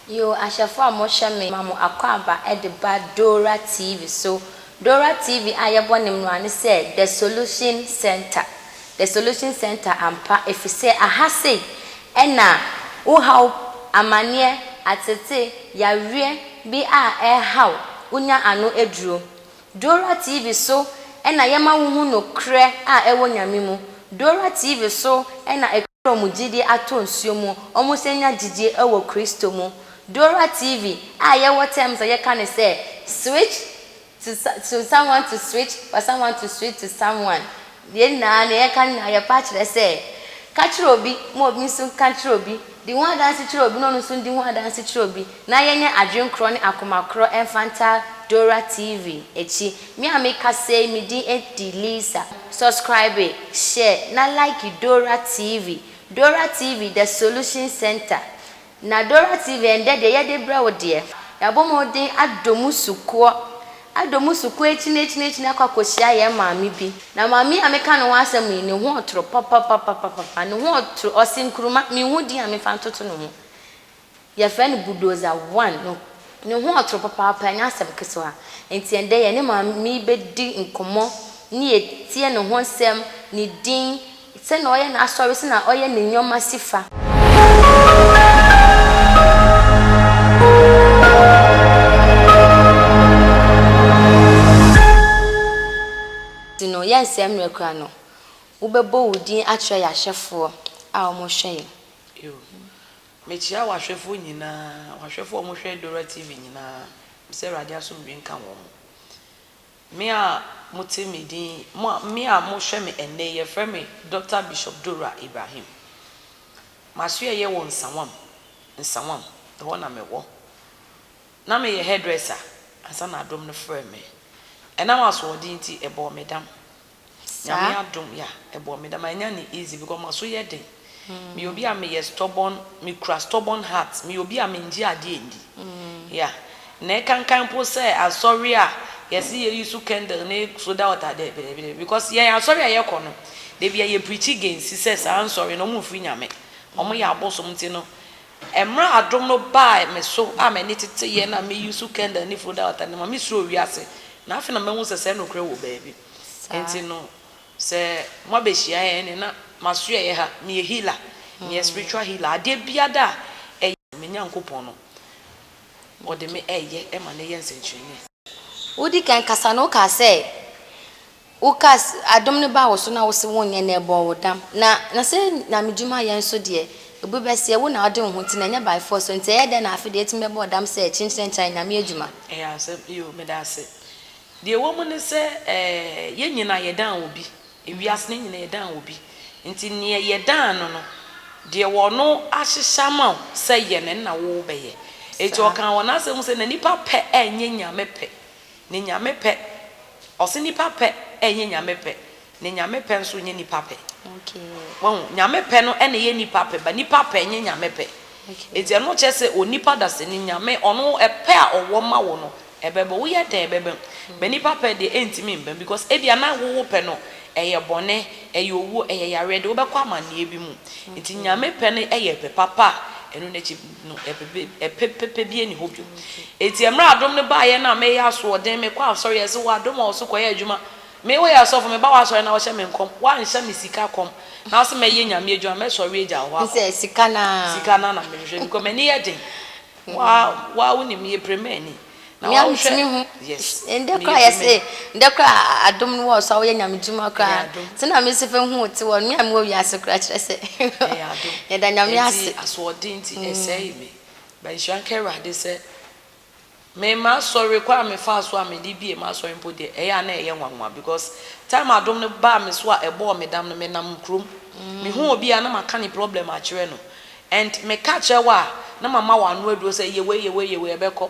Yo ahwɛfo a mohwɛ me ma mo akwaaba de ba Dora TV so Dora TV a yɛbɔ ne mmra ne sɛ The Solution Center The Solution Center ampa efisɛ aha sei na wo haw, amanneɛ, atete, yareɛ bi a ɛrehaw wo nya ano aduro. Dora TV so na yɛma wo hu nokorɛ a ɛwɔ Nyame mu. Dora TV so na ɛkura wɔn gyidie atɔ nsuo mu, wɔn san nya gyidie wɔ Kristo mu. Dora TV a yɛwɔ terms a yɛka no sɛ, Switch To to someone to switch for someone to switch to someone yɛn nyinaa nea yɛka nyinaa yɛpɛ akyerɛ sɛ ka kyerɛ obi ma obi nso nka kyerɛ obi di ho adanse kyerɛ obi na ɔno nso ndi ho adanse kyerɛ obi na yɛnyɛ adwene korɔ ne akoma korɔ ɛmfa nta Dora TV akyi me a meka sei me din ɛdi Lisa subscribe share na like Dora TV Dora TV the solution center Na Dora TV ɛndɛ deɛ yɛde brɛ wo deɛ. Yɛabɔ mmɔden adɔ mu sukuɔ, adɔ mu sukuɔ akyinaakyinaakyinaa akɔ akɔhyia yɛn maame bi. Na maame yi a meka ne ho asɛm yi, ne ho ɔtoro papapapapapa, ne ho ɔtoro, ɔse nkruma, menhu din a memfa ntoto ne ho. Yɛfrɛ no Bulldozer One no. Ne ho ɔtoro papaapa, ɛnyɛ asɛm kesewa. Enti ɛndɛ yɛne maame yi bɛdi nkɔmmɔ ne atie ne ho nsɛm, ne din, Sɛ na ɔyɛ n'asɔre sɛ na ɔyɛ ne nneɛma si fa. Nti no, yɛnsɛe mmerɛ koraa no, wobɛbɔ wo din akyerɛ yɛn ahwɛfoɔ a wɔhwɛ yɛn. Yo. Mekyea w'ahwɛfoɔ nyinaa, w'ahwɛfoɔ a wɔhwɛ Dora TV nyinaa. Mesɛ Awurade asomdwoe nka wɔn. Me a mote me din, mo a, me a mohwɛ me ɛnnɛ yi, yɛfrɛ me Dɔkta Bishop Dora Ibrahim. M'asoɛeɛ yɛ wɔ Nsawam, Nsawam, ɛhɔ na mewɔ. Na meyɛ hairdresser ansa na dom no frɛɛ me. Ɛnam asoɔden nti, ɛbɔɔ me dam. Saa. Nyame adom ya ɛbɔ me da ma nya ne easy because ma so yɛ den me yɛ obi a me yɛ stubborn me kura stubborn heart me yɛ obi a me ngye adeɛ ndi ya na ɛkankan mpo sɛ asɔre a yɛ se yɛ use candle ne soda water dɛbi dɛbi dɛbi because yɛn asɔre a yɛ kɔ no dabi a yɛ preachi gɛnsi sɛ saa nsɔre no ɔmo nfiri Nyame ɔmo yɛ abosom nti no ɛmere adom no baa me so a m'ani tete yɛ na me use candle ne foda water no ma me suro wiase na afei na mahu sɛ sɛ nokorɛ wɔ baabi. saa. Nti no sɛ mo abɛhyia yɛ ɛne na masoɛ yɛ ha meyɛ healer meyɛ spiritual healer adeɛ biada a ɛyɛ a me Nyankopɔn no ɔde me ɛyɛ ɛma no yɛ nsɛnkyerɛnee. Wodi kan kasa no wokaa sɛ wokaa sɛ adom no baa wo so na wose wonyɛ na ɛbɔɔ wo dam na na sɛ Nyame dwuma yɛ nso deɛ obi bɛseɛ wo na wode wo ho ti na ɛnyɛ by force so nti ɛyɛ dɛn na afe deɛ atumi bɛbɔ wo dam sɛ kyenkyerɛnkyerɛn Nyame adwuma. Ɛyɛ asɛm yoo medase Deɛ ɛwɔ mu ne sɛ, ɛɛ, yɛn nyinaa yɛdan obi. Ewiase no, yɛn nyinaa yɛdan obi. Nti neɛ yɛdan no no, deɛ ɔno ahyehyɛ ama wo sɛ yɛ no, ɛnna wobɛyɛ. Nti Saa. ɔkaa wɔ n'asɛm mu sɛ, na nnipa pɛ ɛnyɛ Nyame pɛ. Na Nyame pɛ, ɔse nnipa pɛ ɛnyɛ Nyame pɛ. Ne Nyame pɛ nso nyɛ nipa pɛ. Wahu? Nyame pɛ no na ɛyɛ nipa pɛ, but nipa pɛ nyɛ Nyame pɛ. Enti ɛno kyerɛ sɛ onipa dasani, Nyame, ɔno pɛ a ɔwɔ ma wo no, ɛbɛba. Woyɛ dɛn a ɛbɛba mu. But nipa pɛ deɛ, ɛntumi mba mu because ebia na wo wo pɛ no ɛyɛ bɔne, ɛyɛ owuo, ɛyɛ yareɛ de, wobɛkɔ amanneɛ bi mu. Enti Nyame pɛ no yɛ pɛ papa a ɛno n'akyi no ɛpɛ pɛpɛ biara nni hɔ bio. Enti mmerɛ adom no baeɛ no a meyɛ asoɔden, mekɔ asɔre a, yɛse wɔ adom a ɔso kɔyɛ adwuma, Me woyɛ asɔfo meba w'asɔre na wohyɛ me nkɔm woanhyɛ me sika kɔm na wose mɛyɛ nyame adwuma mɛsɔre agya wo hɔ akɔ Sɛ sika no ara. sika no ara na mehwehwɛ because m'ani yɛ den woa woa wonim meyɛ premani na Me a woahwɛ metumi hu yes ndɛ meyɛ koraa yɛse premani. ndɛ koraa a adom no wɔɔso a woyɛ nyame dwuma Ɛyɛ koraa adom. ntsi na mese fɛ hu wo tse wɔ me a mowɔ wiase koraa kyerɛ sɛ Ɛyɛ adom yɛda nyame ntsi ase. asoɔden ntsi ɛsɛe me but nhyira nka Awurade sɛ Me m'asɔre kwan a me faa so a me de bie m'asɔre mpo deɛ ɛyɛ a na ɛyɛ nwanwa because time a dom no baa me so a ɛbɔɔ me dam no me nam kurom me hu obi a na ma ka ne problem akyerɛ no and me ka kyerɛ wo a na ma ma wo ano aduro sɛ yɛ wei yɛ wei yɛ wei ɛbɛkɔ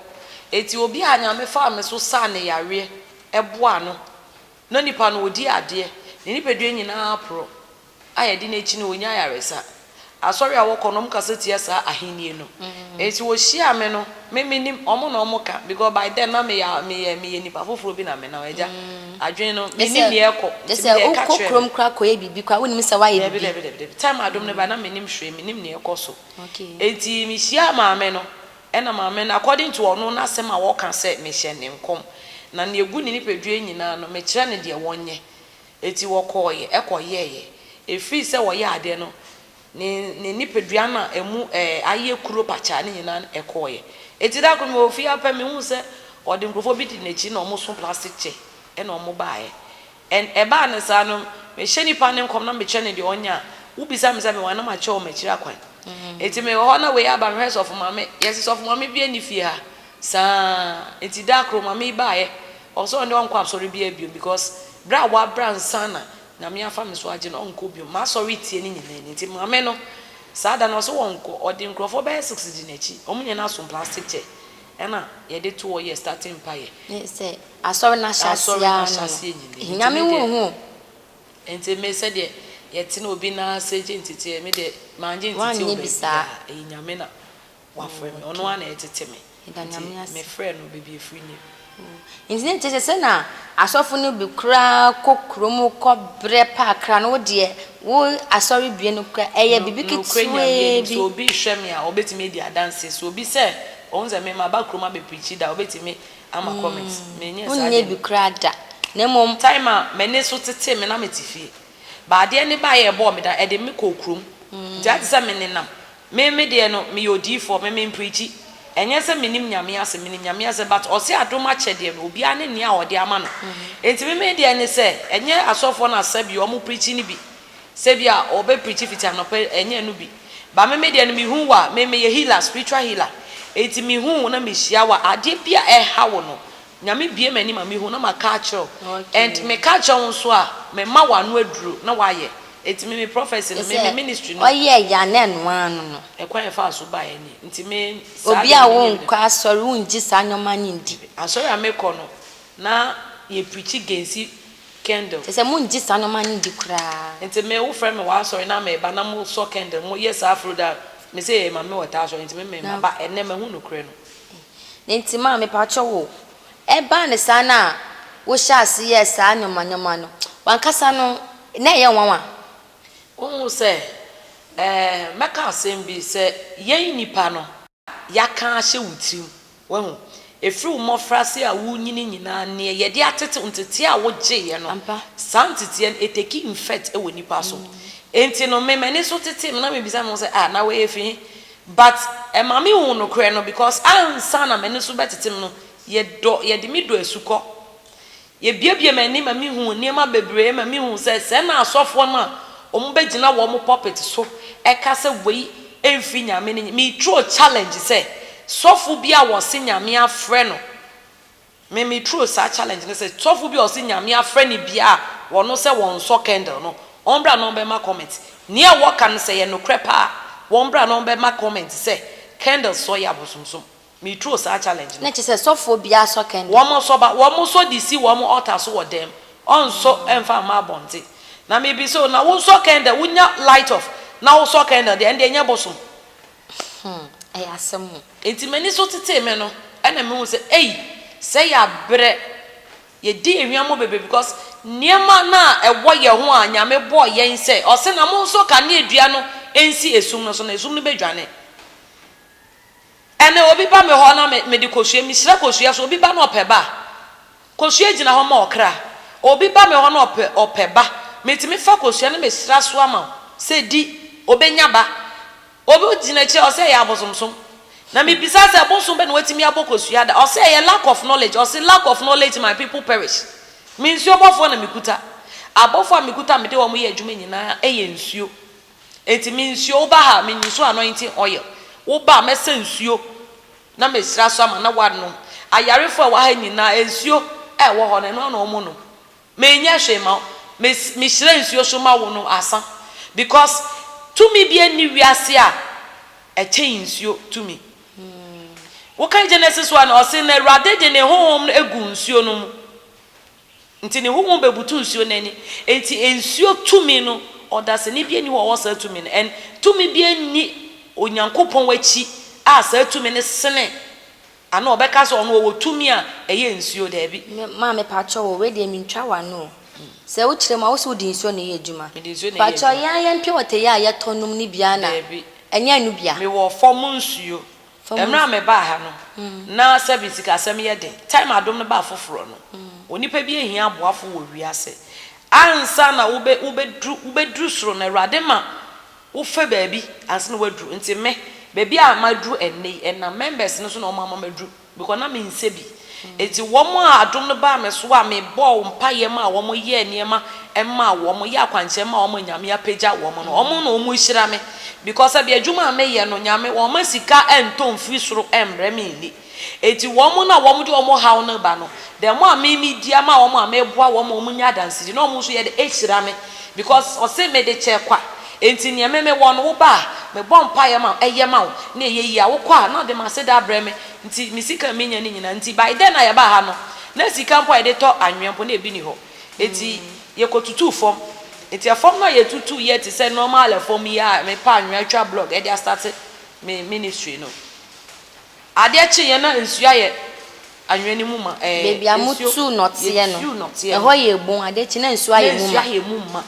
eti obi a nyame faa me so saa ne yareɛ ɛboa no Ná nipa no odi adeɛ, ne nipadua nyinaa aporɔ, a ɛde no akyi no ɔnya ayaresa. Asɔre a wɔkɔ no wɔkasa tia saa ahennie no. Enti wɔhyiaa me no, me mennim, wɔn na wɔka, because by then na meyɛ a meyɛ meyɛ nipa foforɔ bi na me now agya adwene no Te mennim sɛ, deɛ ɛkɔ, te nti sɛ mede ɛka wokɔ kyerɛɛ no. kurom koraa kɔyɛ biribi koraa wonnim sɛ woayɛ Dabi biribi. dabi dabi dabi, time a dom no baeɛ na mennim hwee, mennim deɛ ɛkɔ so. Okay. Enti mehyiaa maame no, Ɛna maame no, according to ɔno n'asɛm a ɔka sɛ, Mehyɛɛ no nkɔm, na nea egu ne nipaduae nyinaa no, mekyerɛɛ no deɛ ɔnyɛ. Enti ɔkɔeɛ kɔyɛeɛ. Ɛfiri sɛ ɔyɛɛ adeɛ no, ne ne nipadua no a ɛmu ayɛ kuro pakyaa no nyinaa kɔeɛ. Enti da koro mewɔ fie ara pɛ, mehuu sɛ ɔde nkurɔfoɔ bi dii n'akyi na wɔso plastic kyɛ na wɔbaeɛ. And ɛbaa no saa no, mehyɛ nipa no nkɔm na mekyerɛ no deɛ ɔnyɛ a, wobisa me sɛ mewɔ a na makyerɛ wɔn akyiri akwan. Nti mewɔ hɔ na wei aba, mehwɛ Sɔfo Maame, yɛse Sɔfo Maame biaa nni fie ha saa, nti da koro Maame yi baeɛ, ɔse ɔno deɛ ɔnkɔ asɔre biaa biom because berɛ a wabra ansa na Nyame afa me so agye no, ɔnkɔ biom. M'asɔre tie no nyinaa ni. Nti Maame no saa da no ɔse ɔnkɔ, ɔde nkurɔfoɔ bɛyɛ six di n'akyi, wɔn nyinaa so plastic kyɛ, Ɛna yɛde to hɔ yɛ starting mpaeɛ. Me sɛ asɔre no ahyɛaseɛ ara no no hia me ho ho o. Nti me sɛdeɛ yɛte no obi nan ase gye nteteɛ me deɛ mangye nteteɛ wɔ baabiara ɛyɛ Nyame na wafrɛ me ɔno ara na ɛtete me nti me frɛ no baabi ɛfiri nie. Enti na ɛnkyɛ sɛ sɛ na asɔfo no bi koraa kɔ kurom kɔbrɛ paakra no, wo deɛ wo asɔrebea no koraa, ɛyɛ biribi Nokorɛ Nyame anim, ketewaa bi. sɛ obi rehwɛ me a, ɔbɛtumi adi adanseɛ. Sɛ obi sɛ ɔhu sɛ me, maba kurom abɛpreachi da a, ɔbɛtumi ama comments. Menyɛɛ saa Wonyɛɛ adeɛ bi no. koraa da, na mmom. Time a m'ani so tetee me na mete fie. But adeɛ no baeɛ a ɛbɔɔ me da, ɛde me kɔɔ kurom. Nti ayɛ te sɛ menenam Me me deɛ no meyɛ odiyifoɔ me me mpreakyi ɛnyɛ sɛ menim nyame asɛm menim nyame asɛm but ɔse adom akyɛdeɛ no obiara ne nea ɔde ama no nti me me deɛ ne sɛ ɛnyɛ asɔfoɔ na sɛ bi ɔmo preakyi no bi sɛ bi a ɔbɛ preakyi fiti anɔpa ɛnyɛ ɛno bi but me me deɛ no mehu wo a me meyɛ healer spiritual healer nti mehu wo na mehyia wo a adeɛ bi a ɛha wo no Nyame bue m'ani ma mehu na maka akyerɛ wo and meka akyerɛ wo nso a mema wo ano aduro na wayɛ nti me me prophecy no me me ministry no. Te sɛ ɔyɛɛ yɛ anaa ɛno ara no no. Ɛkwan a yɛfaa so baeɛ ni nti me saa deɛ Obia wo nkɔ asɔre wo ngye saa nnoɔma no ndi. Asɔre a me kɔ no na yɛ preachi gensi candle. Kyerɛ sɛ mo ngye saa nnoɔma no ndi koraa. Nti me wo frɛ me wɔ asɔre na me ba na mo sɔ candle mo yɛ saa firi da me se yɛ yɛ mame wɔ taa asɔre nti me me maba ɛnɛ mahu nokorɛ no. Na enti ma mepakyɛw o, ɛbaa no saa no a wohyɛɛ ase yɛɛ saa nneɛma nneɛma no, w'ankasa no, na ɛyɛ nwanwa. Wohu sɛ, ɛɛ, mɛka asɛm bi, sɛ yɛn nnipa no. Yɛaka ahyɛ wo tirim, woahu, ɛfiri wo mmɔfraase a worenyini nyinaa, nea yɛde atete wo, nteteɛ a wogyeeɛ no, saa nteteɛ no, it take effect wɔ nnipa so. Enti no, me, m'ani so tetee me, na mebisa me ho sɛ, Ah, na wei, ɛfiri he? But ɛma me hu nokorɛ no because ansa na m'ani so bɛtetem no yɛ dɔ yɛde me dɔ asukɔ yɛ biebie m'ani ma me hu nneɛma bebree ma me hu sɛ sɛ na asɔfoɔ no a wɔn bɛ gyina wɔn mo pulpit so ɛka sɛ wei ɛnfiri nyame no me throw challenge sɛ sɔfo bi a wɔse nyame afrɛ no Me me true saa challenge no sɛ sɔfo bi a ɔse nyame afrɛ no bia a wɔno sɛ wɔnsɔ candle no ɔmbra na ɔmbɛma comment nea ɛwɔ ka no sɛ ɛyɛ nokorɛ paa a wɔmbra na ɔmbɛma comment sɛ candle sɔ yɛ abosomsom me true saa challenge no. Na kyerɛ sɛ sɔfoɔ biara sɔ candle. Wɔn sɔ ba wɔn sɔ de si wɔn altar so wɔ dɛm ɔnsɔ mfa mma abɔnten na me bisa o na wo sɔ candle wo nya light off na wo sɔ candle deɛ ɛndeɛ nyɛ bosom. Hmm ɛyɛ asɛm o. Enti m'ani so tetee me no ɛna me hu sɛ ei sɛ yɛ abrɛ yɛ di yɛ hwiammɔ bebree because nneɛma no a ɛwɔ yɛ ho a Nyame bɔɔ yɛn sɛ ɔse na monsɔ kanea dua no nsi esum no so na esum no bɛ dwane ɛnɛ obi ba me hɔ na me mede kosua me hyira kosua so obi ba na ɔpɛ ba a kosua gyina hɔ ma ɔkra obi ba me hɔ na ɔpɛ ɔpɛ ba metumi fa kosua no me hyira so ama wo sɛ di obɛnya ba Obi gyina akyiri a ɔse ɛyɛ abosomsom na me bisa sɛ bosom bɛ na watumi abɔ kosua da ɔse ɛyɛ lack of knowledge ɔse lack of knowledge my people perish me nsuo bɔfoɔ na me kuta abɔfoɔ a me kuta a mede wɔn yɛ adwuma nyinaa yɛ nsuo enti me nsuo wo ba ha me use anointing oil wo ba a mɛsa nsuo na me sra so ama na wanom ayarefoɔ a ɛwɔ ha nyinaa nsuo a ɛwɔ hɔ no ɛno ara na wɔn nom Menyɛ hwee ma wo me me hyira nsuo so ma wo no asa because tumi biara nni wiase a ɛkyɛn nsuo tumi. Wo kan Genesis one no ɔse na awurade de ne honhom no aguu nsuo no mu nti ne honhom bɛbutu nsuo no ani nti nsuo tumi no ɔdasani biara nni hɔ a ɔwɔ saa tumi no and tumi biara nni Onyankopɔn akyi a saa tumi no sene Anaa ɔbɛka sɛ ɔno ɔwɔ tumi a ɛyɛ nsuo, daabi. Me maame pakyɛw o, wei deɛ mentwa w'ano o. Sɛ wokyerɛ mu a, wose wode nsuo na ɛyɛ adwuma? Mede nsuo na ɛyɛ adwuma. Pakyɛw yɛn ara yɛn pure water yi a yɛtɔ nom no bi ara na Daabi. ɛnyɛ ɛno bi a? Mewɔ fam nsuo. Fam Mmerɛ a nsuo. mebaa ha no, na sɛbe sikasɛm yɛ den. Time a Adom no baa foforɔ no, onipa bi ahia aboafo wɔ wiase. Ansa na wobɛ, wobɛduru, wobɛduru soro no, Awurade ma Wofɛ baabi ansa na woaduru nti me baabi a maduru ɛnnɛ yi ɛnam members no so na wɔn ama maduru because na mensɛ bi nti wɔn a adom no baa me so a mebɔɔ mpaeɛ maa wɔn yɛɛ nneɛma maa wɔn yɛɛ akwankyerɛ maa wɔn a Nyame apagya wɔn no wɔn na wɔn hyira me because sɛbi adwuma a meyɛ no Nyame wɔmma sika ɛntɔ mfiri soro ɛmmrɛ me nni. Enti wɔn no a wɔde wɔn haw no reba no, dɛm a me midi ama wɔn a meboa wɔn ma wɔnya adansedi na wɔn nso yɛ dɛ hyira me, because ɔse mede kyɛ kwa, enti nea me mewɔ no woba a, mebɔ mpaeɛ ma ɛyɛ ma wo, na ɛyɛ yie a, wokɔ a, na ɔde m'aseda abrɛ me, nti me sika a menya no nyinaa nti, by then a yɛbaa ha no, na sika mpo a yɛde tɔ anwea mpo na ebi nni hɔ, enti yɛkɔtutuu fam, enti fam no a yɛtutuu yɛ te sɛ normal fam yi a mepɛ anwea twa block de astate me ministry no. Adeɛ kyeeɛ na nsuo ayɛ anwea no mu ma. Ɛɛ, Baabi a nsuo, motuu nɔteɛ no, yɛtuu nɔteɛ no. ɛhɔ yɛɛ bun, adeɛ kyeeɛ na nsuo ayɛ mu ma. Na nsuo ayɛ mu ma.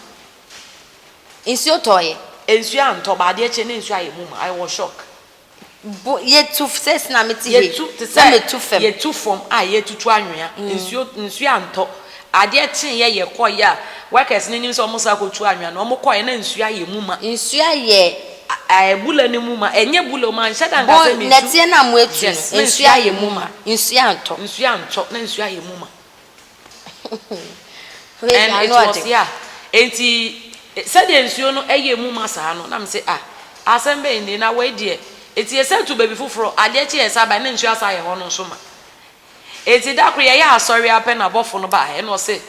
Nsuo tɔeɛ. Nsuo antɔ, but adeɛ kyeeɛ na nsuo ayɛ mu ma. I was shock. Bo, yɛtu, sɛ sɛ na mete hei, Yɛtu te sɛ, na metu fam. yɛtu fam a yɛretutu anwea. Nsuo, nsuo antɔ, Adeɛ kyeeɛ yɛkɔeɛ a workers no nim sɛ wɔn san kɔtu anwea no, wɔn kɔeɛ na nsuo ayɛ mu ma. Nsuo ayɛ. Ayɛ bula no mu ma. Ɛnyɛ bula o, manhyɛ da anka sɛ mensu. Nnɛteɛ no a moatu no, na nsuo ayɛ mu ma. Nsuo antɔ. Nsuo antɔ, na nsuo ayɛ mu ma. And it was ya. Enti sɛdeɛ nsuo no yɛɛ mu ma saa no, na mese ah, asɛm bɛn nie, na wei deɛ. Enti yɛsan tu baabi foforɔ, adeɛ kyeeɛ yɛsan baeɛ na nsuo asan ayɛ hɔ no nso ma. Enti da koro yɛyɛɛ asɔre ara pɛ na abɔfo no bae, ɛnna ɔse,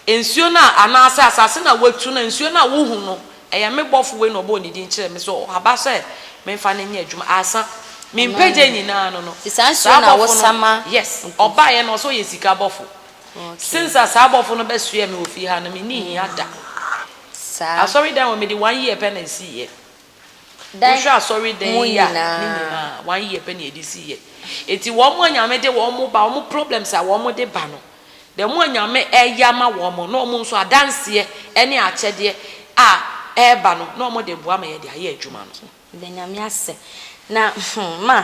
Nsuo no a, anaasɛ asase no a woatu no a nsuo no a wohu no, ɛyɛ me bɔfo wei na ɔbɔɔ ne din kyerɛɛ me sɛ ɔhaba sɛ memfa no nyɛ adwuma. Aasa, me mpagya nyinaa no no, saa bɔfo no, yes, ɔbaeɛ na ɔse ɔyɛ sika bɔfo. Since a saa bɔfo no bɛsoɛɛ me wɔ fie ha no, menni hia da. Asɔredan hɔ, mede one year pɛ na ɛsiiɛ. Wohwɛ asɔredan yi a, ne nyinaa, one year pɛ na yɛde siiɛ. Enti wɔn a Nyame de wɔn ba, wɔn problems a wɔde ba no, the more Nyame ɛyɛ ama wɔn no, na wɔn nso adanseɛ ɛne akyɛdeɛ a ɛba no, na wɔde boa ma yɛde ayɛ adwuma no. Yɛda Nyame ase. Na, hmm, ma,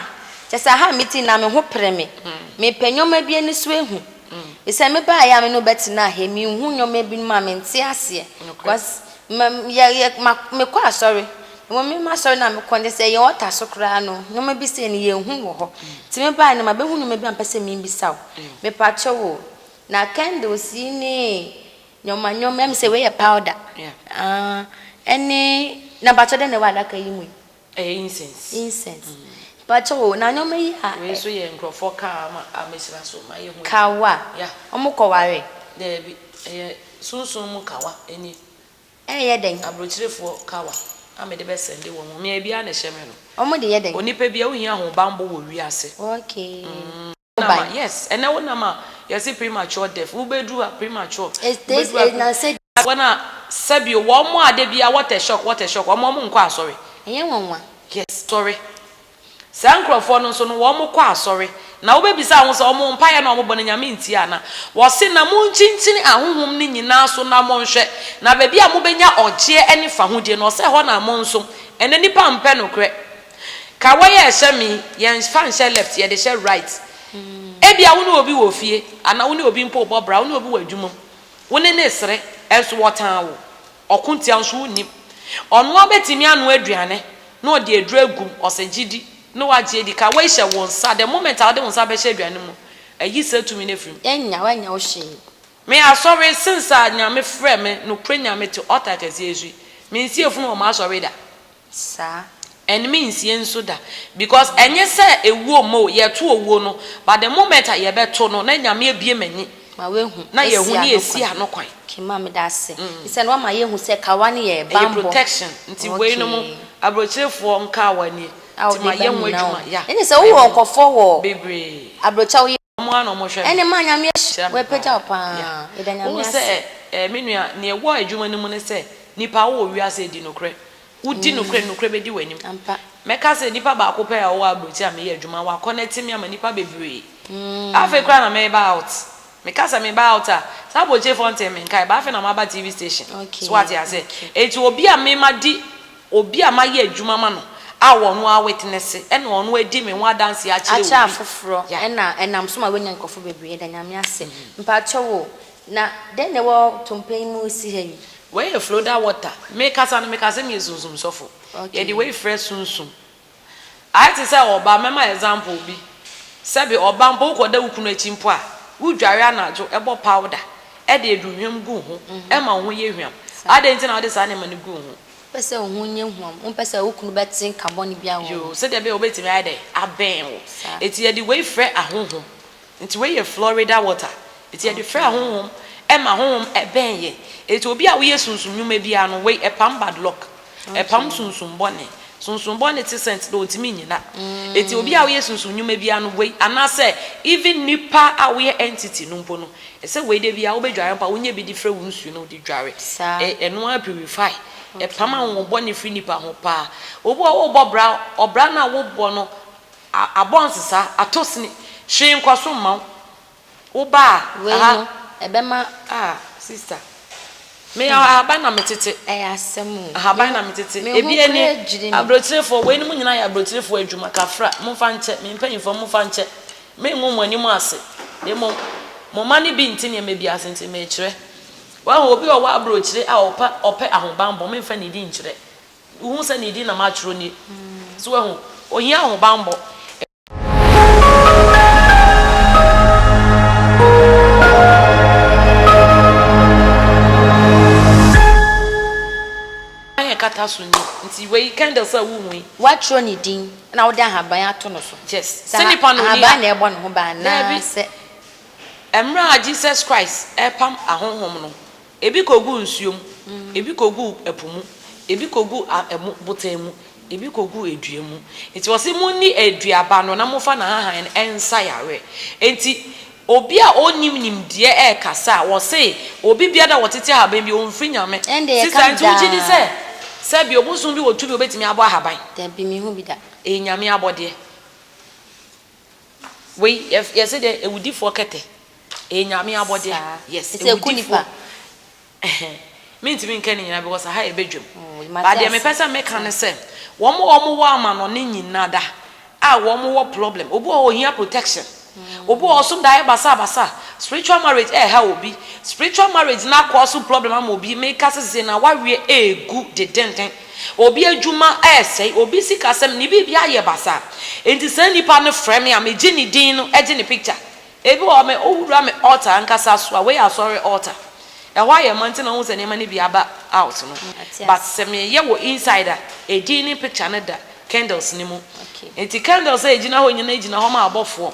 kyɛsɛ aha a mete yi na me ho pere me. Mepɛ nneɛma bi ani so ahu. Esiane me baayɛ a me ne wo bɛtenaa ha yi, menhu nneɛma binom a mente aseɛ. Because ma, yɛ, yɛ, ma, mekɔ asɔre. Mmom me m'asɔre no a mekɔ no, kyerɛ sɛ yɛn altar so koraa no, nneɛma bi sei no, yɛnhu wɔ hɔ. Nti me baeɛ no, mabɛhu nneɛma bi a mepɛ sɛ mebisa wo. Mepakyɛw o, na candles yi ne nneɛma nneɛma, ɛm sɛ wei yɛ powder, ah, ɛne, na mpakyɛw dɛn na ɛwɔ adaka yi mu yi? Ɛyɛ incense. Incense. Mm. Mpakyɛw o, na nneɛma yi a. Wei nso yɛ nkurɔfoɔ car ama amesra so ma yɛhu. Kawa. Yeah. Wɔn kɔware. Daabi, ɛyɛ sunsun mu kawa ni. Ɛyɛ dɛn? Aburokyerefoɔ kawa a mede bɛ sɛnde wɔn, mmea biara na ɛhyɛ me no. Wɔn de yɛ dɛn? Onipa biara, wohia ahobanbɔ wɔ wiase. Okay. Mm. wobae. Yes ɛnɛ wo nam a yɛse premature death wo bɛduru ha premature wobɛduru ha premature. Wɔn a sɛbio wɔn a da biara what a shock what a shock wɔn a wɔn nkɔ asɔre. Ɛnyɛ nwanwa. Yes asɔre saa nkurɔfoɔ no nso no wɔn kɔ asɔre na wo bɛbisa ho sɛ wɔn mpaeɛ no a wɔn bɔ no Nyame ntie ana wɔse na mo nkyinkyini ahohom no nyinaa so na mo nhwɛ na baabi a mo bɛnya ɔgyeɛ ne fahodie no ɔsɛ ɛhɔ na mo nso ɛnɛ nipa mpɛ nokorɛ Ka wɔ yɛ hyɛ me yi, yɛn fa nhyɛ left, yɛ de hyɛ right. Ebia wo ne obi wɔ fie, anaa wo ne obi mpo rebɔ bra, wo ne obi wɔ adwuma mu, wo ne no resere, nso wɔtan wo. Ɔko ntia wo nso wonnim. Ɔno ara bɛtumi anoa aduane na ɔde aduro agu mu, ɔsɛ gye di na wagye adi. Ka wɔ yi hyɛ wo nsa, the moment a wode wo nsa bɛhyɛ aduane no mu, ayi saa tumi no afiri mu. Yɛnnya, w'annya wo hwee. Me asɔre, since a Nyame frɛɛ me, nokorɛ Nyame te altar kɛseɛ yi so yi, mensi efunu wɔ m'asɔre da. saa. Ɛnme nsie nso da because ɛnyɛ sɛ ɛwuo mo o yɛto owuo no but the moment a yɛbɛto no na Nyame abue m'ani ma wahu na yɛhu ne yɛsi ano kwan. Okay ma meda ase ɛsiane wama yɛhu sɛ kawa no yɛ banbɔ. Ɛyɛ protection nti wei nom abrɔkyerɛfoɔ nkaa wɔ anie nti ma yɛ ho adwuma yeah. Ɛne sɛ wowɔ nkɔfoɔ wɔ abrɔkyɛ a woyɛ. Ɛne ma Nyame ahyira me paa. Wohu sɛ eh, me nua, nea ɛwɔ adwuma no mu ne sɛ, nnipa, wowɔ wiase a ɛdi nokorɛ. Wodi nokorɛ, nokorɛ bɛdi w'anim. Mɛka sɛ nipa baako pɛ a ɔwɔ aburokyire a meyɛ adwuma, waconnect me ama nnipa bebree. Afei koraa na mereba out. Meka sɛ meba out a, saa aburokyirefoɔ ntee me nkae, but afei na maba TV station. So woate aseɛ? Enti obi a mema di. Obi a mayɛ adwuma ama no a ɔno ara witnesse ɛna ɔno adi me ho adanseɛ akyerɛ obi. Akyerɛ afoforɔ ɛna ɛnam so ma wanya nkurɔfoɔ bebree yɛda Nyame ase. Mpakyɛw o, na dɛn na ɛwɔ tompɛ yi mu resi ha yi? Wei yɛ Floda water. Mekasa no mekasɛ meyɛ sunsum sɔfo. Yɛde wei frɛ sunsum. Ayɛ te sɛ ɔbaa, mɛma example bi, sɛbi ɔbaa mpo wo kɔ da wo kunu akyi mpo a, wo dware anadwo, bɔ powder, de aduhwam gu wo ho, ɛma wo ho yɛ hwam, adɛn nti na wode saa nneɛma no gu wo ho? Wopɛ sɛ wo ho nyɛ hwam, wompɛ sɛ wo kunu bɛte nka bɔne biara wɔ wo ho. Yoo, sɛdeɛ ɛbɛyɛ a ɔbɛtumi ayɛ dɛn? Abɛn wo. Saa. Enti yɛde wei frɛ ahonhom, Nti wei yɛ Florida water nti yɛde frɛ honhom ɛma honhom ɛbɛn yɛ nti obi a woyɛ sunsum nwuma biara no wei ɛpam bad luck ɛpam sunsum bɔne sunsum bɔne te sɛnt dɛ ɔntumi nyina nti obi a woyɛ sunsum nwuma biara no wei anasɛ even nipa a woyɛ entity no mpo no ɛsɛ wei da biara wobɛ dware mpa wonyɛ bi de frɛ wo nsuo no wode dware ɛ ɛno ara purify ɛpam ahonhom bɔne firi nipa ho paa obi wɔ wobɔ bra ɔbra no a wobɔ no A abɔ nsesa, atɔ sini. Hwee nkɔ so mma wo. Wo ba a, Wei aha. no, ɛbɛma. Ah, sista. Me yɛ ahaban na me tete. Ɛyɛ asɛm o. Ahaban na me tete. Me ho Ebi ani. koraa dwiri me. Abrotirefoɔ, wei nom nyinaa yɛ abrotirefoɔ adwuma. Kafra, momfa nkyɛ. Me mpanyinfoɔ, momfa nkyɛ. Me ngu mo anim ase. Na mmom, mo mma no bi nte nneɛma bi ase nti merekyerɛ. Wahu, obi a ɔwɔ abrokyire a ɔpɛ, ɔpɛ ahobanbɔ, memfa nidi nkyerɛ. Wohu sɛ ne din na matwerɛ nie. So wahu? Ohia ahobanbɔ. Aban a ɛkata so nie. Nti wei candles a wohu yi. Woatwerɛ ne din na wode ahaban ato no so. Yes. Sɛ nipa no nni ha. Ahaban na ɛbɔ ne ho ban anaasɛ. Daabi. Mmerɛ a Jesus Christ repam ahonhom no, Ebi kogu nsuo mu, ebi kogu ɛpo mu, ebi kogu abotan mu, ebi kogu dua mu. Enti ɔse monni aduaba no na momfa n'ahahan no nsa yareɛ. Enti obi a ɔnnim nimdeɛ rekasa a, wɔse obi biara a ɔtete ahaban bi, ɔmfiri Nyame. Sista, nti wogye di sɛ sɛbi ɔbosom bi wɔ tumi a ɔbɛtumi abɔ ahaban? Dabi, menhu bi da. Ɛyɛ Nyame abɔdeɛ. Wei yɛ yɛse dɛ ewudifoɔ kɛtɛ ɛyɛ Nyame abɔdeɛ yes ewudifoɔ ɛhɛn mentumi nka ne nyinaa because aha yɛ badwam but deɛ mepɛ sɛ meka ne sɛ wɔn a wɔn wɔ amanɔne nyinada a wɔn wɔ problem obi wɔ hɔ ohia protection obi wɔ hɔ ɔsom daeɛ basabasa spiritual marriage ɛɛha obi spiritual marriage no akɔ so problem ama obi meka sɛ sese na waweɛ egu dedenden. Obi adwuma resɛe, obi sikasɛm, ne biribi ayɛ basaa. Enti saa nipa no frɛ me a, megye ne din no gye ne picture. Ebi wɔ hɔ, me wowura me altar ankasa so a, wei yɛ asɔre altar. Ɛhɔ ayɛ ma nti na wohu sɛ nneɛma no bi aba out no. But sɛ meyɛ wɔ inside a, edin ne picture no da candles no mu. Enti candles a egyina hɔ nyinaa gyina hɔ ma abɔfoɔ.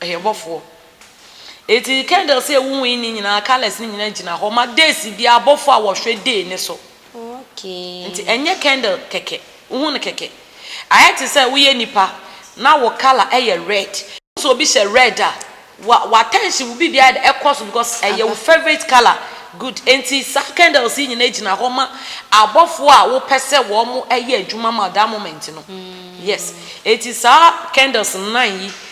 Ɔyɛ bɔfoɔ. Enti candles a ɛwowɔ yi ne nyinaa colours no nyinaa gyina hɔ ma days biara abɔfoɔ a wɔhwɛ day no so. Nti ɛnyɛ candle kɛkɛ. Wohu no kɛkɛ? Ayɛ te sɛ woyɛ nipa na wo colour yɛ red. Wohu sɛ obi hyɛ red a, wa w'attention, wo biribiara ayɛ dɛ ɛkɔ so because ɛyɛ wo favourite colour. Good. Enti saa candles yi nyinaa gyina hɔ ma abɔfoɔ a wopɛ sɛ wɔyɛ adwuma ma wo that moment no. Yes. Enti saa candles nnan yi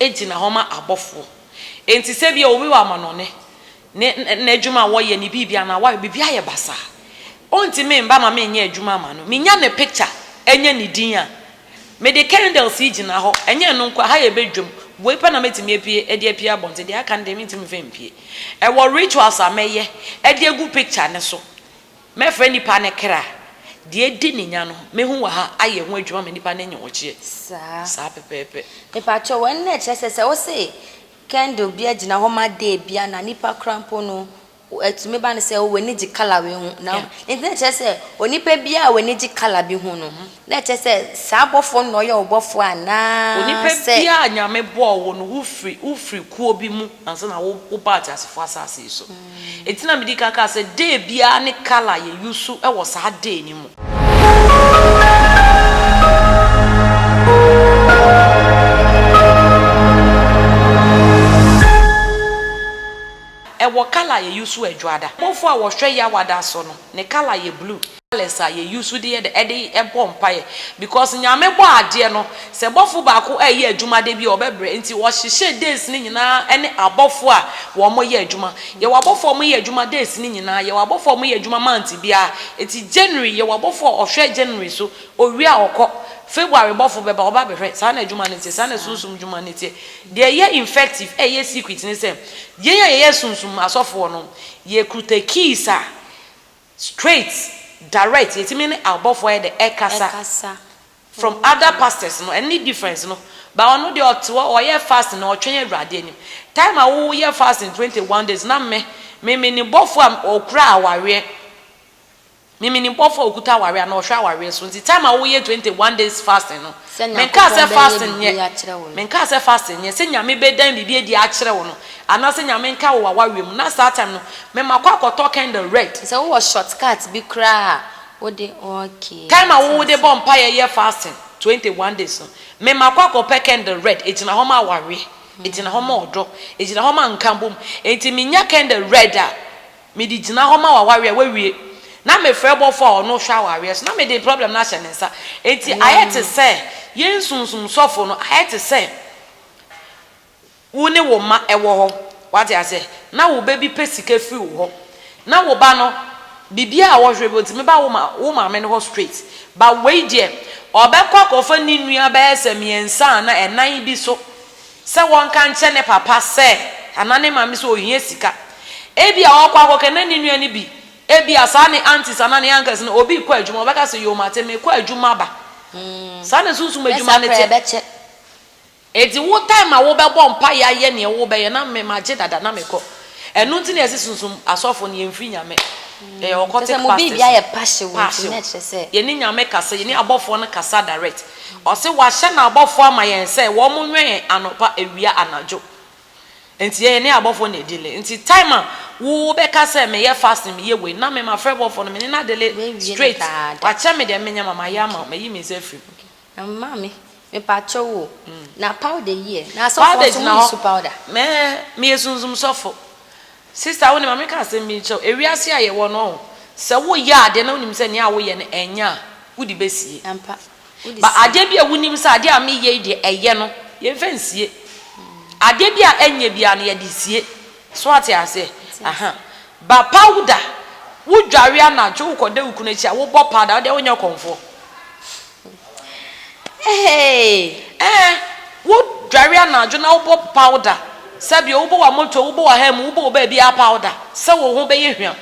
gyina hɔ ma abɔfoɔ. Enti sɛ ebia obi wɔ amanɔne, ne n'adwuma a wɔyɛ, ne biribi anaa wayɛ biribi ayɛ basaa a, ɔntumi mma ma menyɛ adwuma mma no. Menya ne picture, ɛnyɛ ne din a, mede candles yi gyina hɔ, ɛnyɛ ɛno nko a, ha yɛ badwam, wei pɛ na mɛtumi apue de apue abɔnten, deɛ aka no deɛ mentumi mfa mpue. Ɛwɔ rituals a mɛyɛ de agu picture no so. Mɛfrɛ nipa ne kra, deɛ adi ne nya no, mɛhu wɔ ha, ayɛ ho adwuma ma nipa no anya ɔgyeɛ. Saa. Saa pɛpɛɛpɛ. Mepakyɛw, ɛno na ɛkyerɛ sɛ sɛ wose candle bi agyina hɔ ma day bi a na nipa koraa mpo no ɛtumi ba no sɛ oh w'ani gye colour wei ho na Yeah. nti na ɛkyerɛ sɛ onipa biara a w'ani gye colour bi ho no na ɛkyerɛ sɛ saa bɔfoɔ no na ɔyɛ wo bɔfoɔ anaa Onipa sɛ biara a Nyame bɔɔ wo no, wofiri wofiri kuo bi mu ansa na wo wobaa teasefoɔ asase yi so. Enti na medi kan kaa sɛ day biara ne colour a yɛ use wɔ saa day no mu. Ɛwɔ colour a yɛ use wɔ Adwoada. Bɔfoɔ a wɔhwɛ Yawada so no, ne colour yɛ blue. Alex a yɛ use de yɛ dɛ ɛde bɔ mpaeɛ because Nyame bɔ adeɛ no sɛ bɔfo baako ɛyɛ adwuma da bi a ɔbɛbrɛ nti ɔhyehyɛ days no nyinaa ɛne abɔfo a wɔn yɛ adwuma yɛwɔ abɔfo a wɔn yɛ adwuma days no nyinaa yɛwɔ abɔfo a wɔn yɛ adwuma month biara ɛti January yɛwɔ abɔfo a ɔhwɛ January so ɔwie a ɔkɔ February bɔfo bɛba ɔba bɛhwɛ saa na adwuma no teɛ saa na sunsum dwuma no teɛ deɛ ɛyɛ infective ɛyɛ secret ne sɛ yɛn a yɛyɛ sunsum asɔfoɔ no yɛ kuta keys a Straight, direct, yɛtumi ne abɔfoɔ ayɛ dɛ ɛkasa, from other pastors no ɛno ne difference no, but ɔno deɛ ɔte hɔ ɔyɛ fasting na ɔtwɛn Awurade anim, time a woyɛ fasting twenty one days na me, me menim bɔfoɔ a ɔkura awareɛ, me menim bɔfoɔ a ɔkuta awareɛ anaa ɔhwɛ awareɛ so, nti time a woyɛ twenty one days fasting no, Sɛ Menkaa Nyankopɔn sɛ bɛyɛ fasting nyɛ, biribi akyerɛ wo no. menkaa sɛ fasting nyɛ, sɛ Nyame bɛdan biribi adi akyerɛ wo no, anaa sɛ Nyame nka wo awareɛ mu, na saa time no me makɔ akɔtɔ candle red. Sɛ wowɔ short cut bi koraa a wode okay Time a wate wode bɔ aseɛ. mpaeɛ yɛ fasting 21 days no, me makɔ akɔpɛ candle red, ɛgyina hɔ ma awareɛ, ɛgyina hɔ ma ɔdɔ, ɛgyina hɔ ma nkabom, enti menya candle red a, Mede gyina hɔ ma w'awareɛ a wawie na mefrɛ bɔfoɔ a ɔno hwɛ awareɛ so na mede problem no ahyɛ ne nsa. Enti ayɛ te sɛ yɛn sunsum sɔfo no ayɛ te sɛ wo ne wo mma wɔ hɔ, wate aseɛ, na wo ba bi pɛ sika firi wo hɔ, na wo ba no biribiara a wɔhwɛ bi ɔtumi ba wo ma wo maame no hɔ straight, but wei deɛ ɔbɛkɔ akɔfa ne nua bɛyɛ sɛ mmiɛnsa anaa ɛnan bi so. sɛ wɔnka nkyerɛ ne papa sɛ anaa ne maame sɛ ɔhia sika. Ebia ɔkɔ akɔka na ne nua no bi, ebia saa ne aunties anaa ne uncles no, obi rekɔ adwuma, ɔbɛka sɛ, Yoo, mate, merekɔ adwuma aba. Saa na sunsum adwuma no te. Enti wo time a wobɛbɔ mpaeɛ ayɛ nea wobɛyɛ na me magye dada na mekɔ. Ɛno nti na yɛse sunsum asɔfo no yɛmfiri Nyame. Yɛyɛ occultic pastors. Passion. Yɛne Nyame kasa, yɛne abɔfoɔ no kasa direct. Ɔse wahyɛ n'abɔfoɔ ama yɛn sɛ wɔn nwɛn yɛn anɔpa, awia, anadwo. Nti yɛ yɛne abɔfoɔ na ɛdile. Nti time a wo bɛka sɛ me yɛ fasting me yɛ wei na me ma frɛ bɔfoɔ no me ne no adele straight. Wakyɛ me deɛ me nyɛ ma ma yɛ ama wo mayi me nsa afiri mu. Maame mepakyɛ wo o na powder yi ɛ na asɔfoɔ nso mo use powder. Powder gyina hɔ mɛɛ meyɛ sunsum sɔfo Sista, wo ne ma menka asɛm bi nkyerɛ wo, ewiase a yɛwɔ no, ɔho, sɛ woyɛ adeɛ na wonim sɛ nea woyɛ no ɛnyɛ a, wode bɛsie. Ampa. Wode sie. But adeɛ bi a wonim sɛ adeɛ a meyɛ yi deɛ ɛyɛ no, yɛmfa nsie. Adeɛ bi a ɛnyɛ biara no, yɛde sie. So woate aseɛ? Mate Aha. aseɛ. But powder, wodware anadwo, wokɔda wo kunu akyi a, wobɔ powder, wodeɛ wonyɛ kɔmfoɔ. Hey! Ɛɛ, wodware anadwo na wobɔ powder, sɛbi wobɔ w'amoto, wobɔ w'aha mu, wobɔ wo baabiara powder sɛ wo ho bɛyɛ hwam.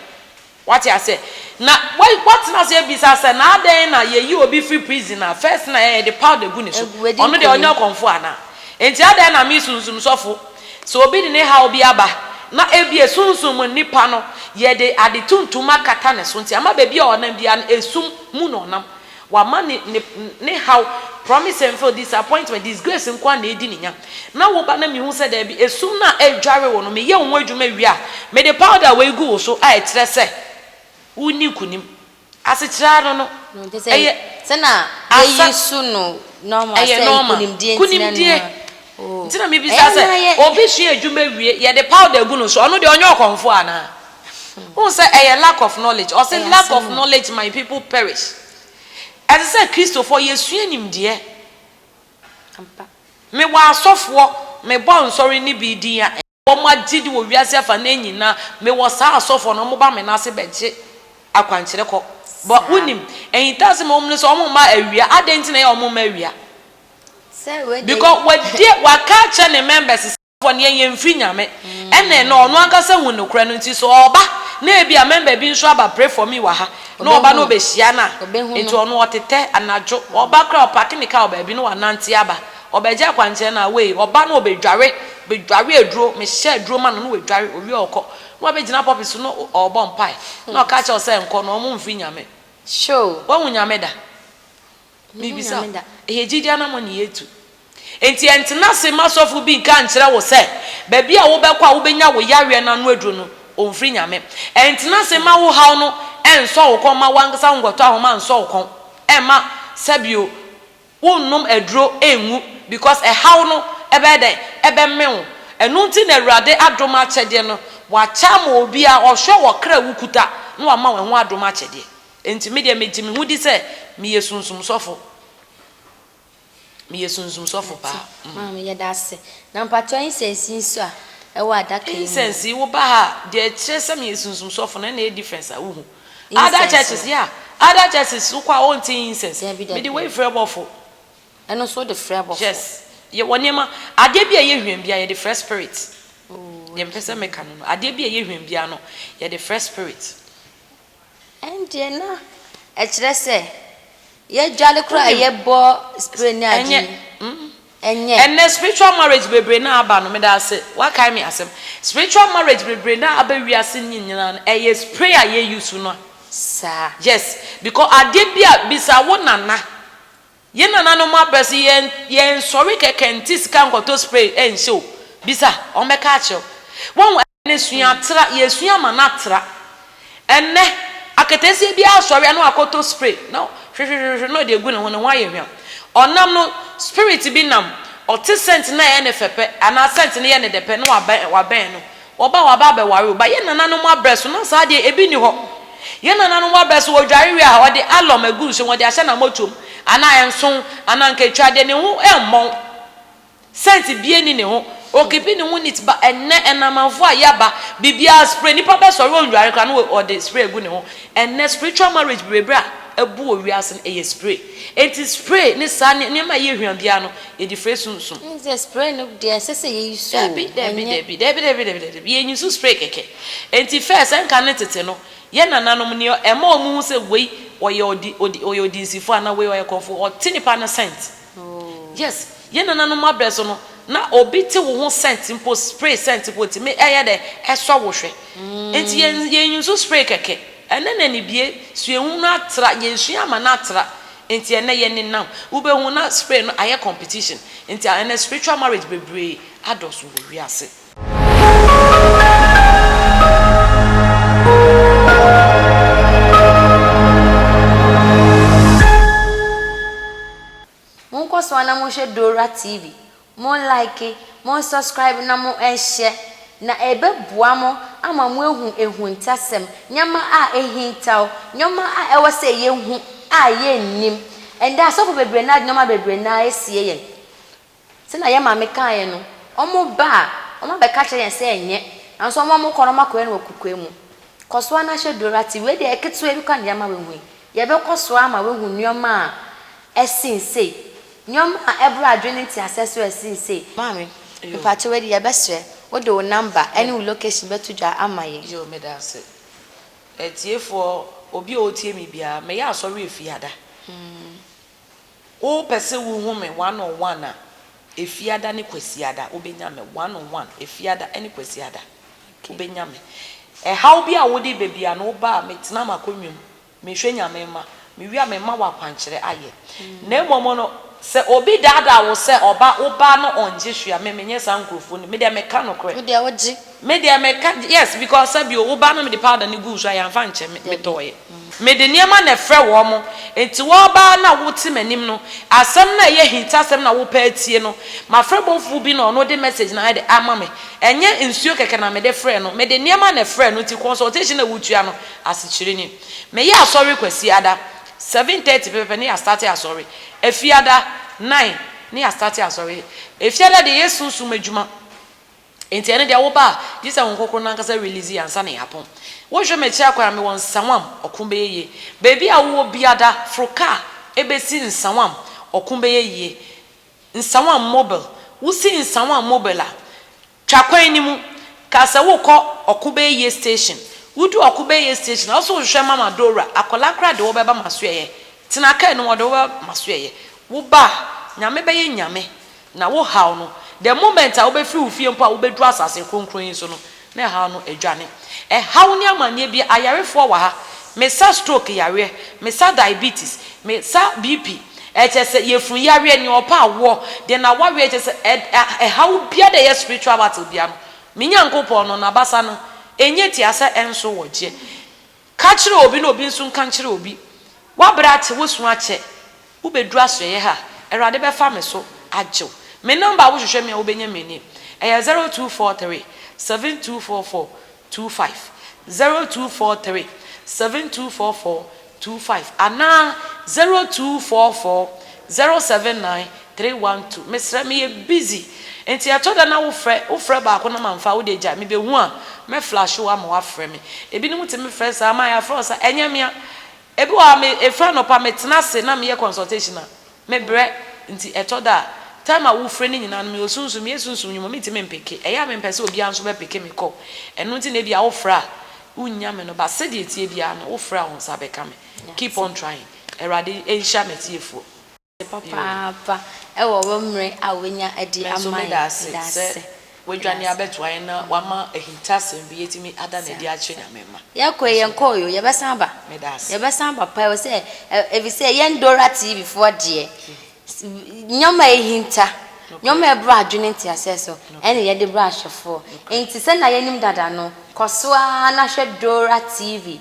Wate aseɛ? Na woatena ase abisa sɛ na adɛn na yɛyi obi firi prison a, first na yɛde powder gu ne so. Ɔno deɛ ɔnyɛ ɔkɔmfoɔ anaa? Enti adɛn na me sunsum sɔfo, sɛ obi de ne haw bi aba na ebia sunsum mu nipa no, yɛde ade tuntum akata ne so nti ama baabi a ɔnam biara no, esum mu na ɔnam. Wama ne ne ne haw promise and fail disappointment disgrace nko ara na edi ne nya na wo ba na mihu sɛ daabi esum no a ɛredware wo no meyɛ wo ho adwuma wie a mede powder wei gu wo so a ɛkyerɛ sɛ worenni nkonim asekyerɛ ara no no No nti sɛ ɛyɛ sɛ na asa yɛyi su no normal ɛyɛ sɛ normal nkunimdie nti na nkunimdie. nneɛma. Nti na mebisa sɛ, obi sua adwuma wie, yɛde powder gu no so, ɔno deɛ ɔnyɛ ɔkɔmfoɔ anaa? Wohu sɛ ɛyɛ lack of knowledge. Ɔse lack of knowledge my people perish. Ɛsɛ sɛ Kristofoɔ yɛsua nimdeɛ. Mewɔ asɔfoɔ, mebɔ nsɔre ne bi din a, Wɔn agyede wɔ wiase afanan nyina. Me wɔ saa asɔfoɔ no, wɔn ba me nan ase bɛ gye akwankyerɛ kɔ. But wo nim, ahintasem a wɔn ne sɛ wɔn mma awia, adɛn nti na ɛyɛ a wɔn mma awia? Because wadi, waka akyerɛ ne members sɛ asɔfoɔ no yɛn yɛn mfiri Nyame, ɛna ɛnɛ ɔno ankasa hu nokorɛ no nti sɛ ɔba na ebi a member bi nso aba pray for me wɔ ha na ɔba na ɔbɛ hyia no a, nti ɔno ɔtetɛ anadwo, ɔba koraa ɔparke ne car wɔ baabi na wɔanante aba. Ɔbɛgye akwankyerɛ no a, wei, ɔba na ɔbɛdware, bɛdware aduro, mehyɛ aduro ma no na wadware, ɔwie a ɔkɔ. Na wabɛgyina pulpit so na ɔrebɔ mpaeɛ, na ɔka kyerɛ wo sɛ nkɔ na ɔmo mfiri Nyame. Woahu Nyame da? Mebisa wo, ɛyɛ gyidie anaa mo ani yɛtu? Enti ɛntena ase mma sɔfo bi nka nkyerɛ wo sɛ baabi a wobɛkɔ a wobɛnya wo yareɛ no ano aduro no, ɔmfiri Nyame. Ɛntena ase mma wo haw no ɛnsɔ wo kɔn, mma wo ankasa wo nkɔtɔ ahoma nsɔ wo kɔn, ɛmma, sɛbio, Wonnom aduro ngu because ɛhaw no ɛbɛyɛ dɛn? Ɛbɛmene wo. Ɛno nti na Awurade adom akyɛdeɛ no wakyɛ ama obiara, ɔhwɛ ɔkra a wokuta na wama wo ɛho adom akyɛdeɛ. Enti medeɛ megye me ho di sɛ meyɛ sunsum sɔfo. Meyɛ sunsum sɔfo paa. Mate. Maame yɛda ase. Na mpakyɛw incense yi nso a ɛwɔ adaka yi mu no? Incense yi, woba ha a, deɛ ɛkyerɛ sɛ meyɛ sunsum sɔfo no ɛna ɛyɛ difference a wohu. Other churches yeah other churches wokɔ a wɔn nte incense. Dabi dabi. Mede wei frɛ bɔfo. Ɛno nso wode frɛ abɔfo. Yes yɛ wɔ nneɛma adeɛ bi a ɛyɛ hwɛmm biara yɛde frɛ spirit. Oh deɛ mpɛ sɛ meka no no adeɛ bi a ɛyɛ hwɛmm biara no yɛde frɛ spirit. Ɛndeɛ na ɛkyerɛ sɛ yɛdwale koraa a yɛbɔ spray ne adeɛ yi. Ɛnyɛ mm ɛnyɛ. Ɛnnɛ spiritual marriage bebree no a aba no, meda ase, woakae me asɛm. Spiritual marriage bebree no a aba wiase no nyinaa no, ɛyɛ spray a yɛ use no a. Saa. Yes, because adeɛ bi a, bisa wo nana, yɛn nananom abrɛ so, yɛn, yɛn sɔre kɛkɛ nte sika nkɔtɔ spray nhyɛ o, bisa, wɔn bɛka akyerɛ wo. Wahu? Ne sua tra, yɛsua ma no atra. Ɛnnɛ, aketesia bi asɔre a na wakɔtɔ spray na hwehwehwehwehwe na ɔde agu ne ho, ne ho ayɛ hwam. Ɔnam no, spirit bi nam, ɔte scent no a ɛyɛ no fɛ pɛ, anaa scent no yɛ no dɛ pɛ na wabɛn wabɛn no. Wɔba a wɔaba abɛware o. But yɛn nananom abrɛ so na saa deɛ ebi nni hɔ. Yɛn nananom abrɛ so wɔdware wie a ɔde alum agu nsuom ɔde ahyɛ n'amɔtuom anaa nson anaa nketwa deɛ ne ho ɛmmɔn. Sense bia ni ne ho o kepi ne ho neat ba ɛnɛ ɛnamanfo a yaba bibiaa spray nipa bɛ sɔre ɔnware koraa no ɔde spray agu ne ho ɛnɛ spiritual marriage bebrebe a abu wɔ wiase no ɛyɛ spray enti spray ne saa nneɛma a ɛyɛ hwiam biaa no yɛde fre sunsum. Ɛne sɛ spray no deɛ ɛsɛ sɛ yɛ use o dabi dabi ɛnyɛ. Dabi dabi dabi dabi dabi yɛ use spray kɛkɛ enti fɛ sɛ nka ne tete no yɛ nananom neɛ ɛma ɔmo hu sɛ wei ɔyɛ ɔdi ɔdi ɔyɛ ɔdinsifo anaa wei ɔyɛ kɔmfo ɔte nipa no scent. Yes yɛn nananom abrɛ so no na obi te wo ho scent mpo spray scent mpo ti me ɛyɛ dɛ ɛsɔ wo hwɛ nti yɛn yɛn nsu spray kɛkɛ ɛnɛ na nibie suahu no atra yɛn sua ama no atra nti ɛnɛ yɛn ne nam wo bɛ hu na spray no ayɛ competition nti ɛnɛ spiritual marriage bebree adɔ so wɔ wiase. Monkɔ so ara na monhwɛ Dora TV, mon like, mon subscribe na mo nhyɛ, na ɛbɛboa mo ama moahu ahuntasɛm, nneɛma a ahintaw, nneɛma a ɛwɔ sɛ yɛhu a yɛnnim. Ɛnnɛ asɔfo bebree no ade nneɛma bebree no ara asie yɛn. Sɛnea yɛn maame kaeɛ no, wɔba a, wɔabɛka akyerɛ yɛn sɛ yɛnyɛ, nanso wɔn a wɔkɔ no, wɔakɔyɛ no wɔ kokoa mu. Kɔ so ara na hyɛ duru ara. Te wei deɛ, ketewa bi koraa na yɛama woahu yi. Yɛbɛkɔ so ara ama woahu nneɛma a ɛsen sei, nneɛma a ɛboro adwene ne nteaseɛ so a ɛsen sei. Maame, mpakyɛw wei deɛ yɛbɛsrɛ wo de wo namba ne wo location bɛto dwa ama yɛn. Yoo, meda ase. Atiefoɔ, obi a ɔretie me biara, meyɛ asɔre efie ada. Wopɛ sɛ wuhu me one on one a, Efiada ne Kwasiada wobenya me one on one, Efiada ne Kwasiada wobenya me. Ɛhaw bi a wode ba biara no, woba a, metena m'akonnwa mu, mehwɛ Nyame mma, mewie a mema wo akwankyerɛ ayɛ. Na mmom no, sɛ obi daadaa wo sɛ ɔba, wo ba no ɔngye hwee a, me menyɛ saa nkurɔfoɔ no bi. Me deɛ meka nokorɛ. Wo deɛ wogye. Me deɛ me ka yes because sɛ bio wo ba no me de powder no guu so a yɛanfa nkyɛ me me tɔɔɛ me de nneɛma na ɛfrɛ wɔn mo nti wɔba a na wo te m'anim no asɛm na ɛyɛ hint asɛm na wo pɛ atie no mafrɛ bɔfoɔ bi na ɔno de message na ayɛ de ama me ɛnyɛ nsuo kɛkɛ na me de frɛ no me de nneɛma na ɛfrɛ no nti consultation na wo tua no asekyerɛ ni me yɛ asɔre kwasi ada seven thirty pɛpɛpɛ ne yɛ astate asɔre ɛfi ada nine ne yɛ astate asɔre ɛfi ada deɛ yɛ sunsum adwuma. Enti ɛne deɛ woba a gye sɛ Honhom Kronkron no ankasa release yɛ ansa na yɛapɔn. Wohwɛ me akyire akwan a mewɔ Nsawam, ɔko bɛyɛ yie. Baabi a wowɔ biada, foro kaa ɛbɛsi Nsawam, ɔko bɛyɛ yie. Nsawam mobile, wosi Nsawam mobile a, twa kwan no mu, ka sɛ worekɔ ɔko bɛyɛ yie station. Wodu ɔko bɛyɛ yie station a, wo nso wohwehwɛ Mama Dora, akwadaa koraa de wo bɛba m'asoɛeɛ. Tena kaa no mu, ɔde wo bɛba m'asoɛeɛ. Woba a, Nyame bɛyɛ Nyame. Na wo haw no, the moment a wobɛfiri wo fie mpo a wobɛduru asase kronkron yi so no, na ɛhaw no adwane. Ɛhaw ne amanneɛ bi, ayarefoɔ wɔ ha, me sa stroke yareɛ, me sa diabetes, me sa BP, ɛkyɛ sɛ yɛfunu yareɛ, nea ɔpɛ awoɔ, deɛ n'awareɛ, ɛkyɛ sɛ ɛ, ɛ, ɛhaw biara deɛ ɛyɛ spiritual battle biara no, me Nyankopɔn no, N'abasa no, ɛnyɛ tia sɛ ɛnso wɔ gyeɛ. Ka kyerɛ obi na obi nso nka nkyerɛ obi. W'abrɛ ate, wosu akyɛ. Wobɛduru asoɛeɛ ha. Awurade bɛfa me so agye wo. Me number a wohwehwɛ me a wobɛnya me nie. Ɛyɛ zero two four three seven two four four two five, zero two four three seven two four four two five anaa zero two four four zero seven nine Three one two mesrɛ me yɛ busy nti ɛtɔ da na wo frɛ wo frɛ baako na ma nfa wo deɛ gyae me bɛ hu a mɛ flash wo ama wa frɛ me ebi nom tumi frɛ saa ma yɛ afrɛ wo saa ɛnyɛ mea ebi wɔ ha me efiri anɔpa me tena ase na me yɛ consultation a me brɛ nti ɛtɔ da a time a wo frɛ no nyinaa no me wɔ sunsum me yɛ sunsum nwuma me ntumi mpeke ɛyɛ a me mpɛ sɛ obiara nso bɛ peke me call ɛno nti na ebi a wo frɛ a wo nnya me no but sɛdeɛ etie biara no wo frɛ a wo nsa bɛka me keep on trying awurade nhyira me atiefoɔ. ase papaapa wɔ wo mmere a woanya adi ama yɛn. Nanso meda ase sɛ woadwane abɛtoa yɛn na woama ahintasɛm bi atumi ada no adi akyerɛ Nyame mma. Yɛkɔe, yɛnkɔe oo, yɛbɛsan aba. Meda ase. Yɛbɛsan aba paa ɛwɔ sɛ, efisɛ yɛn Dora TV foɔ deɛ, nneɛma a ɛhinta, nneɛma a ɛbrɛ adwene nteaseɛ so, ɛna yɛde brɛ ahwɛfoɔ. Enti sɛnea yɛnim dada no, kɔ so ara na hwɛ Dora TV.